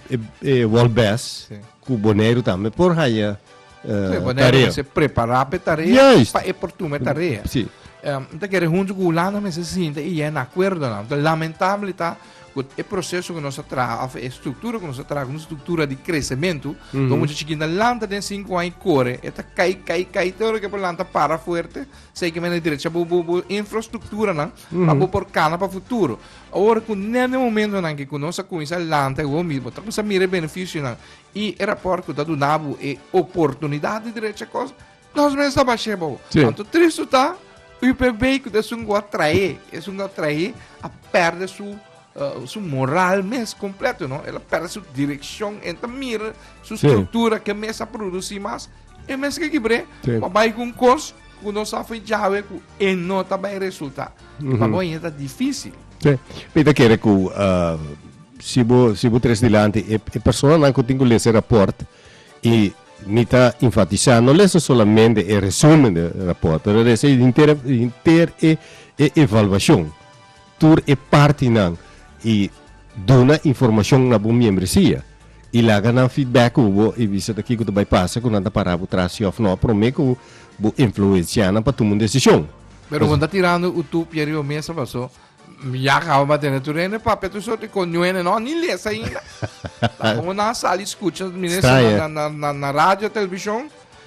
eh, eh, World Best. Sí. Cu Boneiru tambe por haya uh, Boneiru tarea. se prepara pe tarea Juist. pa e portume tarea. Sí. Um, ta kere hunto cu Hulanda me se sinta y en acuerdo na. Lamentable ta Goed, e proceso que nos traga, of e structura que nos traga, una structura de crecimiento, mm -hmm. mucha chiquita lanta den 5 años corre, eta cai, cai, cai, todo que por lanta para fuerte, sei que me derecha bu, bu, bu infrastructura, na, mm -hmm. para por cana para futuro. Awor ku nèt e momentonan ke ku nos a kuminsá lanta e hopi mismo, ta kuminsá mira e benefisionan i e rapòrt ku ta duna bo e oportunidat di drecha kos, nos mes ta bash'é bo. Sí. Anto tristu ta, UPB ku ta esun ku a traé, esun ku a traé, a pèrdè su eh, su moral mes kompleto, no? El a pèrdè su direkshon, el ta mira su Sí. struktura ke mes a produsí mas, e mes ke kibr'é, Sí. pa bai ku un kos ku nos a fai djawe ku E no ta bai resulta. I pa bo ainda ta difisil. Sí. Mi ta kere ku si bo si bo tres dilanti e e personanan ku tin ku lesa e rapòrt i mi ta enfatisá no lesa solamente e resúmen di rapòrt pero lesa henter henter e e evaluashon. tur e partinan y duna informacion na bo miembresia y laga nan feedback cu bo y bisa ta kico ta bay pasa cu nan ta para bo tras si of no prome cu bo influencia nan pa tuma un decision. Pero bo no ta tirando u tup yeri bo mesa paso mi ya caba pa tene tur hende papia tur soort y con nuene no ha ni les ainda. Laga bo nan sali scucha mi ne esnan na radio, television.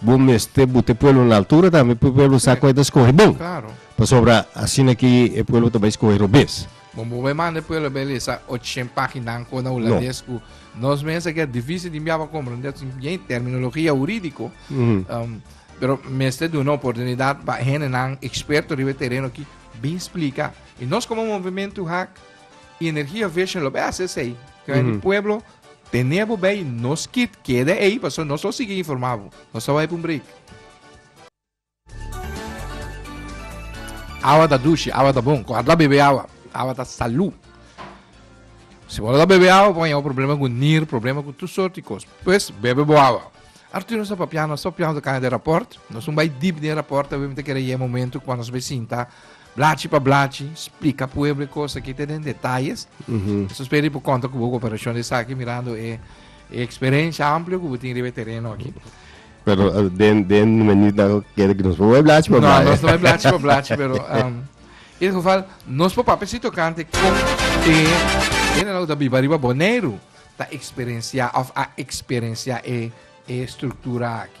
Bo mester bute pueblo na altura tambe p'e pueblo sa kua e ta skohe bon. Claro. Pasobra asina ki e pueblo ta bai skohe robes. Bon, bo bai manda e pueblo bai lesa ochen paginan kon na hulandes ku nos mes a keda difísil di mbiaba komprendé. Yen terminologia hurídiko. Pero mester duna oportunidat pa hendenan eksperto riba e tereno aki bin splika. I nos komo movementu hak i energia vision lo bai hasi esei. Pueblo Tene bo bay no skip keda ey paso nos lo sigui informa bo. Nos ta bay pa un break. Awa ta dushi, awa ta bon. Cuando a bebe awa, awa ta salud. Si bo no ta bebe awa, bo haña problema cu nier, problema cu tur soort di cos. Pues, bebe bo awa. Arturo nos a papia, nos a papia, nos a cana den rapport. Nos un bay deep den rapport, ta bay mi ta kere yega momento cu nos bay sinta Blachi pa blachi, splika pueblo e kos aki te den detayes. Esos pedi por konta ku bo koperashon di esaki mirando e eksperensia amplio ku bo tin riba e tereno aki. Pero den den meni dan kere ku nos por blachi pa blachi. No, nos no por blachi pa blachi, pero e geval nos por papia si tokante kon e hende nan ku ta biba riba Boneiru ta eksperensia of a eksperensia e struktura aki.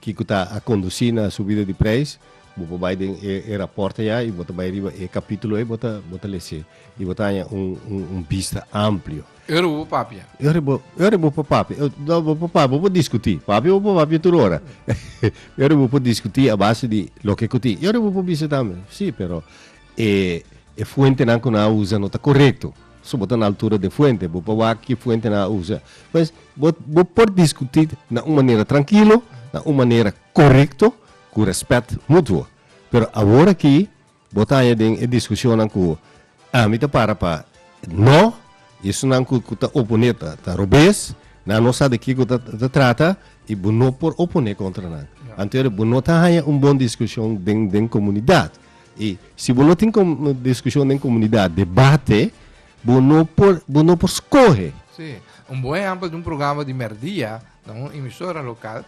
Kico ta a conduci na subida di prijs? Bo por bay den e e rapporten ya y bo ta bay riba e capitulo ey bo ta bo ta lece y bo ta haña un un un bista amplio. Ora bo por papia. Ora bo ora bo por papia no bo por papia bo por discuti, papia bo por papia tur ora ora bo por discuti a base di loke cu tin y ora bo por bisa tambe si pero E e fuentenan ku no a usa no ta korekto. So bo ta na altura di e fuente, bo por wak ki fuente nan a usa. Pues, bo bo por diskutí na un manera trankilo, na un manera korekto, ku rèspèt mutuo. Pero awor aki bo ta haña den e diskushonnan ku ami ta para pa nò, i esnan ku ku ta oponé ta ta robes, nan no sa di kiko ta ta trata, i bo no por oponé kontra nan. Anto ora bo no ta haña un bon diskushon den den komunidat. I si bo no tin diskushon den komunidat, debate, bo no por, bo no por skohe. Sí. Un bon ehèmpel di un programa di mèrdia na un emisora lokal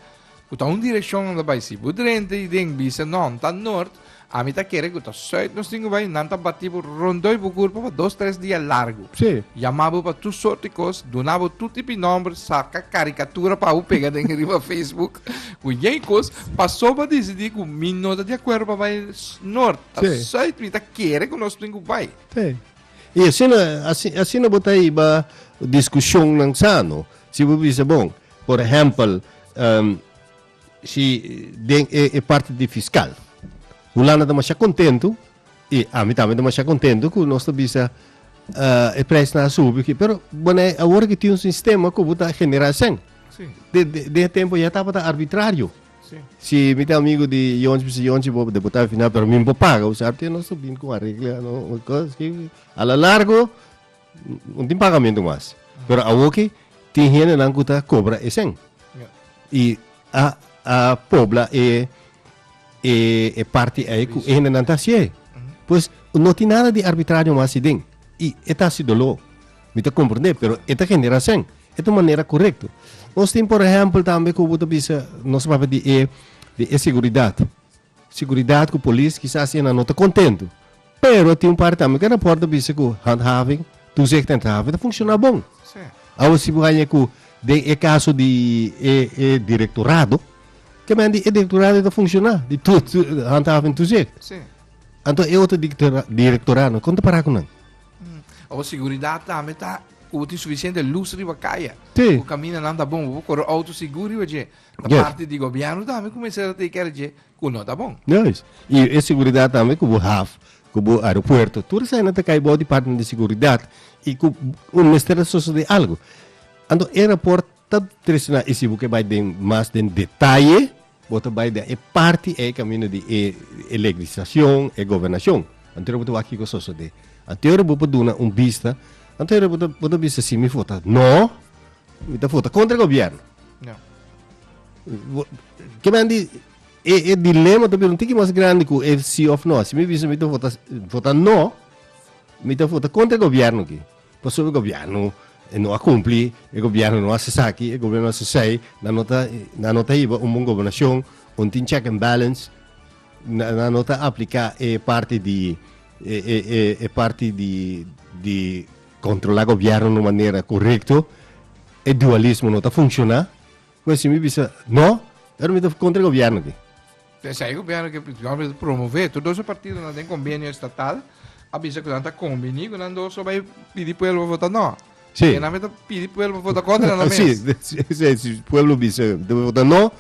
ku ta un direkshon unda bai. Si bo drenta i den bisa, no, N ta nort, ami ta kere ku ta sùit nos tin ku bai. Nan ta batí bo rondoi bo kurpa pa dos tres dia largu. Sí. Yamá bo pa tur sort di kos, duna bo tur tipi nòmber, saka karikatura pa bo pega den riba Facebook. Cu jij cos pasoba decidí cu mi no ta de acuerdo pa bai norte, ta Sí. zuid, mi ta kere cu nos tin cu bai. Sí. Y asina, asi- asina bo ta hiba discusionnan sano. Si bo bisa, bon, por ehempel, em, si den e, e parti di fiscal, Hulanda ta masha contento I ami tambe demasiado contento cu nos ta bisa uh, e prijs na subi ki pero bueno ahora que tiene un sistema como ta generar sen sí. de, de, de tiempo ya estaba ta arbitrario sí. si mi amigo de Jonchi pues Jonchi bo deputado final pero mi bo paga usar que no subin con arregla no cosas que a la largo no tin pagamentu mas. Pero awor ki tin hendenan ku ta kobra e sen. I a a pobla e e e parti ei ku e hendenan ta hasié. Pues no tin nada di arbitrario mas ayi den. I e ta hasi doló. Mi ta komprendé, pero e ta genera sen. E ta un manera korekto. Nos tin, por ehèmpel, tambe ku bo ta bisa nos a papia di e di e seguridat. Seguridat ku polis kisas asina no ta kontentu, pero a tin un parti tambe ku e raport a bisa ku handhaving, toezicht en handhaving, ta funshoná bon. Awe si bo haña ku den e kaso di e e direktorado, kemente e direktorado ta funshoná di handhaving toezicht? Anto e otro direktoradonan kon ta pará ku nan? Awe seguridat tambe ta ku bo tin sufisiente lus riba kaya, ku kamindanan ta bon, ku bo kore outo sigur riba dje. Ta Yes. parti di gobierno tambe cu mester a take care dje cu no ta bon. Juist. I e seguridad tambe cu bo haf, cu bo aeropuerto, tur esaki nan ta cay bao department di seguridad y cu un mester ta sosode algo. Anto e rapport ta traicioná y si bo ke bay den mas den detaye bo ta bay den e parti ey camino di e e legislacion, e gobernacion. Anto hora bo ta wak kico sosode. Anto hora bo por duna un bista, anto hora bo ta bo ta bisa si mi for ta no, Mi ta vota contra e gobierno. Ja. Ke men di, e, e dilema ta bira un tiki mas grandi ku e si of no. Si mi bisa mi ta vota, vota no, mi ta vota contra e gobierno ki. Pasobra e gobierno e no a cumpli, e gobierno no a hasi saki, e gobierno no a hasi sei, nan no ta, nan no ta hiba un bon gobernashon, un tin check and balance, nan, nan no ta aplika e parti di, e, e, e, e parti di, di Kontrolá gobièrnu na manera korekto, e dualismo no ta funshoná. Ku esei mi bisa, No, pero mi ta kontra e gobièrnu aki. Tensai e gobièrnu aki principalmente ta promové. Tur dos e partidonan den kombenio estatal a bisa ku nan ta kombiní ku nan dos so bai pidi pueblo pa vota no. Si. Ke nan mei ta pidi pueblo pa vota kontra nan mes. Si, si pueblo bisa ta vota no,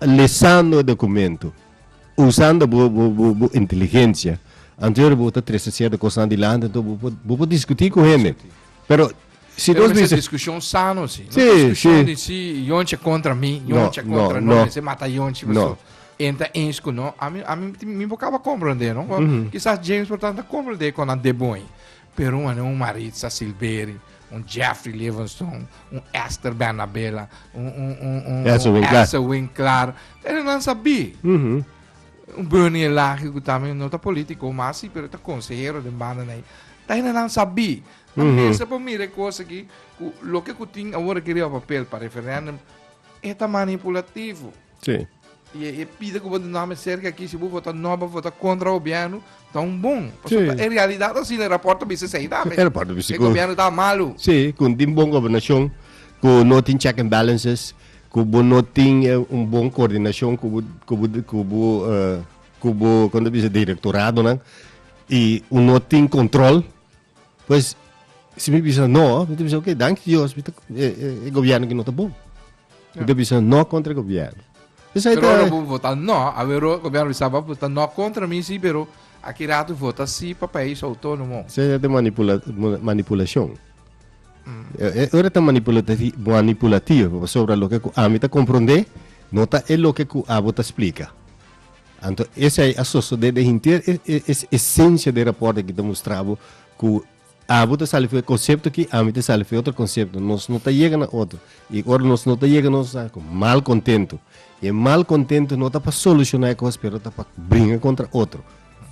Lesando e dokumento usando bo bo inteligensia, anto ora bo ta trese sierto kosnan dilanti anto bo por bo por diskutí ku hende. Pero si nos mester. Pero diskushon sano si. No diskushon di si yonchi kontra mi, yonchi a kontra no, mester mata yonchi paso e ta ens ku no. Ami ami mi por kaba komprondé no. Kisas James por tanta komprondé kon a debon. Pero un anei un Maritza Silveri, un Jeffrey Livingston, un Esther Bernabela, un, un, un, un, Elsa un Winkler. Elsa Winkler. Pero nan sabí. Un Bernie Elagi, ku tambe no ta polítiko mas, sí, pero ta konsehero den banda na ei. Ta hende nan sabí. Nan mester por mira e kos akí, ku loke ku tin awor akí riba papel pa referèndum, e ta manipulativo. Sí. Y e pide cu bo ta nome cerca aki, si bo vota no, bo vota contra gobierno, ta un bon. Sí. En realidad así el rapport ta bisa sei tambe. El rapport ta bisa. El gobierno ta malo. Sí, cu no tin bon gobernacion, cu no tin check and balances, cu bo no tin un bon coordinacion cu bo, cu bo, cu bo, con ta bisa directoradonan y un no tin control. Pues, si mi bisa no, mi ta bisa, ok, danki Dios, mi ta, e, e, e gobierno ki no ta bon. Mi ta bisa no contra e gobierno. Pues ahí Pero ta, ora bo vota no, a ver, ora gobierno bisa bo vota no contra mi, sí, pero aquí rato vota sí pa país autónomo. se ya ta manipula, mu- manipulacion. Eh, eh, Ora ta manipulati- manipulativo, pasobra lo que cu ami ta comprende, no ta e lo que cu abo ta explica. Anto esei a sosode den henter e e esencia den raport aki ta mustrabu cu abo ta sali fu e concepto aki ami ta sali fu e otro concepto nos no ta yega na otro y ora nos no ta yega nos sa cu mal contento y e mal contento no ta pa soluciona e cos pero ta pa bringa contra otro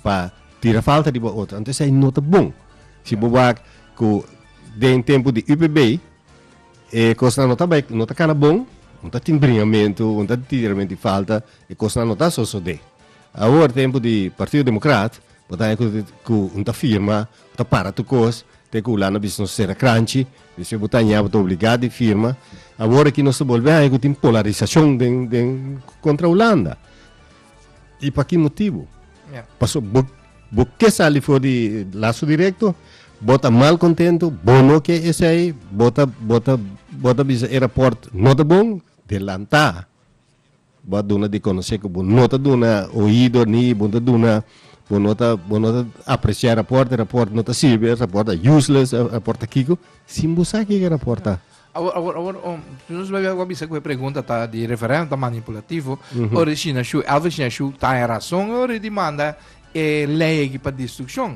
pa tira falta riba otro anto esei no ta bon si bo wak cu den tempo di UPB e cosnan no ta bai no ta cana bon bo ta tin bringamento bo ta tin tiramentu di falta E kosnan no ta sosodé. Awor tempu di Partido Democrat, bo ta haña ku un ta firma, bo ta para tur kos, te ku Hulanda bisa nos sera kranchi, despues bo ta haña bo ta obligá di firma. Awor aki nos ta bolbe haña ku tin polarisashon den, den kontra Hulanda. I pa ki motibu? Pasobra bo, bo ke sali for di laso direkto, bo ta mal kontentu, bo no ke esei, bo ta, bo ta, bo ta bisa e rapòrt no ta bon, delantá. Bo a duna di konosé ku bo no ta duna oido ni bo ta duna bo no ta bo no ta apresiá e rapòrt, e rapòrt no ta sirbi, e rapòrt ta useless, e rapòrt ta kiko, sin bo sa ke ke rapòrt ta. Awor awor awor um nos lo lo bisa ku e pregunta ta di referèndum ta manipulativo, ora Shinashu Elvis Shinashu ta e rason ora e dimanda e lei aki pa destrukshon.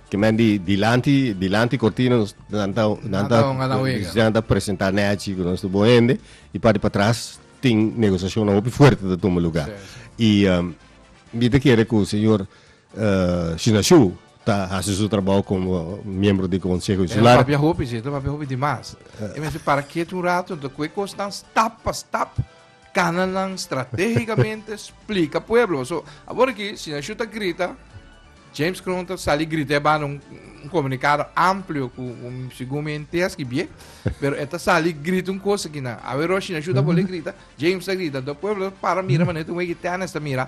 Ki men di dilanti dilanti cortina nos nan ta nan ta nan ta presenta Nechi ku nos bon hende i parti pa tras tin negosiashon na hopi fuerte ta tuma lugar. I um, mi ta kere ku señor uh, Shinashu ta hasi su trabou como miembro di Consejo Insular. Papia hopi, si, papia hopi di mas. E men si para ketu un rato, ta kue kos nan stap pa stap Cananan strategicamente splica pueblo. So, abor aquí, si Nashu ta grita, James Kroon ta sali grita ba un, un comunicado amplio cu un según me enteas que bien, pero eta sali grita un cosa que na. A ver, si Nashu ta bole grita, James ta grita, do pueblo para mira manera un wegi tennis ta mira.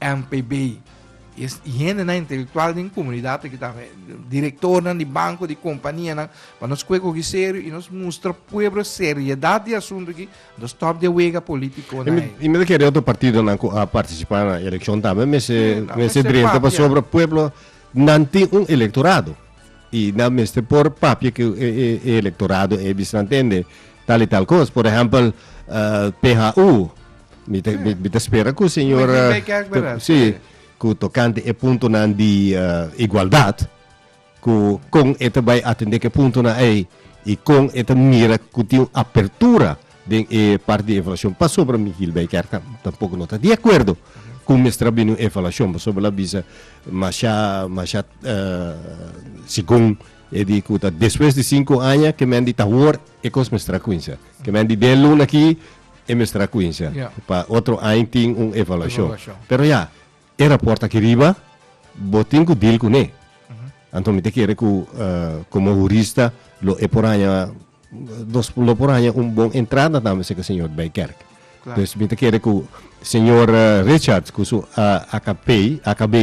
NPB, y es hendenan intelectual den comunidad aki ta, directornan di banco, di companianan, pa nos kue koki serio y nos mustra pueblo seriedad di asunto aki, nos stop di a wega politico na ei. Y mi ta kere otro partidonan cu a participa na eleccion tambe mester, Sí, nan mester mester drenta papia. pasobra pueblo nan tin un electorado y nan mester por papia cu e, e, e electorado ei bisnan tende tal y tal cos. Por ehempel, eh, PHU, Mi ta, mi, mi ta spera ku señor Meken bay kerk, bera? si Sí. ku tokante e puntonan di eh, igualdad ku kon e ta bay atende ku e puntonan ei i kon e ta mira ku tin un apertura den e parti di evaluashon pasobra mi Gil bay kerk tam- tampoko no ta di akuerdo ku mester a bini un evaluashon pasobra el a bisa masha masha eh, segun e di ku ta despues di sinku aña kemen di ta awor e kos mester a kuinsha kemen di den luna aki E mester a cuincia. Ya. Pa otro aña tin un evaluacion. Evaluacion. Pero ya, e rapport aki riba bo tin cu deal cune. Anto mi ta kere cu como hurista lo e por haña nos lo por haña un bon entrada tambe si cu señor Bey Kerk. Claro. Pues mi ta kere cu señor Richard cu su AKPI, AKB,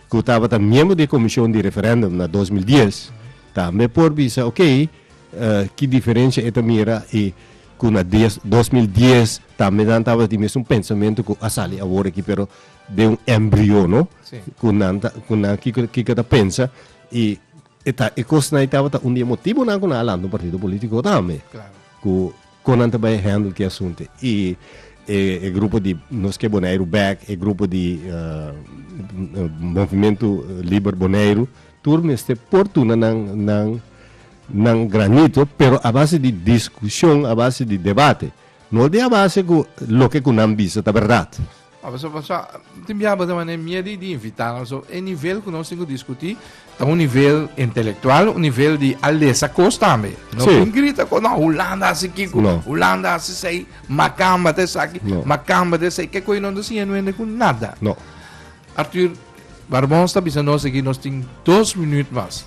cu tabata miembro di e comision di referendum na dos mil dies tambe por bisa oke ki diferencia e ta mira y cu na dos dos mil dies tambe nan tabata tin mesun pensamiento cu a sali awor aki pero den un embrio no sí. cu nan ta cu nan kiko kiko ta pensa y e ta e cos na tabata un di e motivo nan cu nan a lanta un partido politico tambe Claro. cu con nan ta bay handle ki asunto y e e grupo di nos ke Boneiru back e grupo di eh, movimiento liber Boneiru tur mester por tuna nan nan nan granito pero a base di diskushon a base di debate no di a base ku loke ku nan bisa ta bèrdat. A paso paso tin biaha bo ta manera mie di di invitá nan so e nivel ku nos tin ku diskutí ta un nivel intelektual un nivel di a lesa kos tambe no tin grita kos no hulanda hasi kiko hulanda hasi sei makamba ta esaki makamba ta esei ke koe no ta siña nuende ku nada Artur Barbons ta bisa nos aki nos tin dos minüt mas.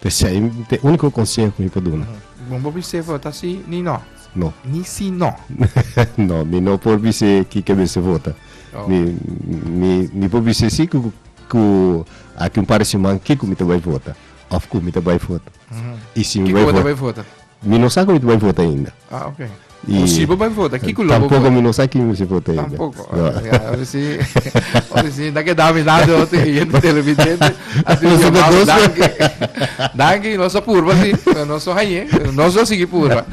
P'esei t'e úniko konseho ku mi por duna. Bon por bis'é for ta sí ni no? No. Ni sí no? No, mi no por bis'é ki ke mester for ta. Mi mi mi por bis'é sí ku ku aki un par di siman kiko mi ta bai for ta òf ku mi ta bai for ta. I si mi bai for ta. Kiko bo ta bai for ta? Mi no sa cu mi ta bay vota ainda. Ah, ok. Y, o si bo bay vota, ¿qué culo Tampoco vota? mi no sa quién mi se vota ainda. Tampoco. No. Okay, ya, a ver si, a ver si, da que dame nada de otro que gente televidente. Así que llamado, danke. Danke, no so purba, sí. No so haye, no so sigui purba.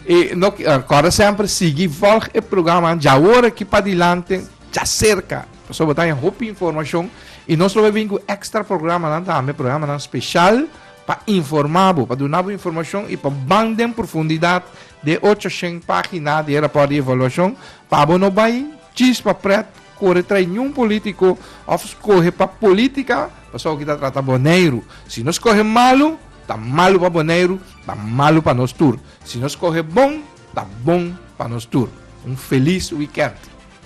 E no, acorda sempre, sigui volg e programa, ja ora que pa dilante, ja cerca. So botan hopi información. Y nos lo vin cu extra programa, dan tambe programa dan special. Pa informá bo, pa duna bo informashon i pa ban den profundidat di e ocho shen página di e rapòrt di evaluashon, pa bo no bai chispa prèt, kore trae niun polítiko òf skohe pa polítika pasobra ku i ta trata Boneiru. Si no skohe malu, ta malu pa Boneiru, ta malu pa nos tur. Si no skohe bon, ta bon pa nos tur. Un felis wikènt!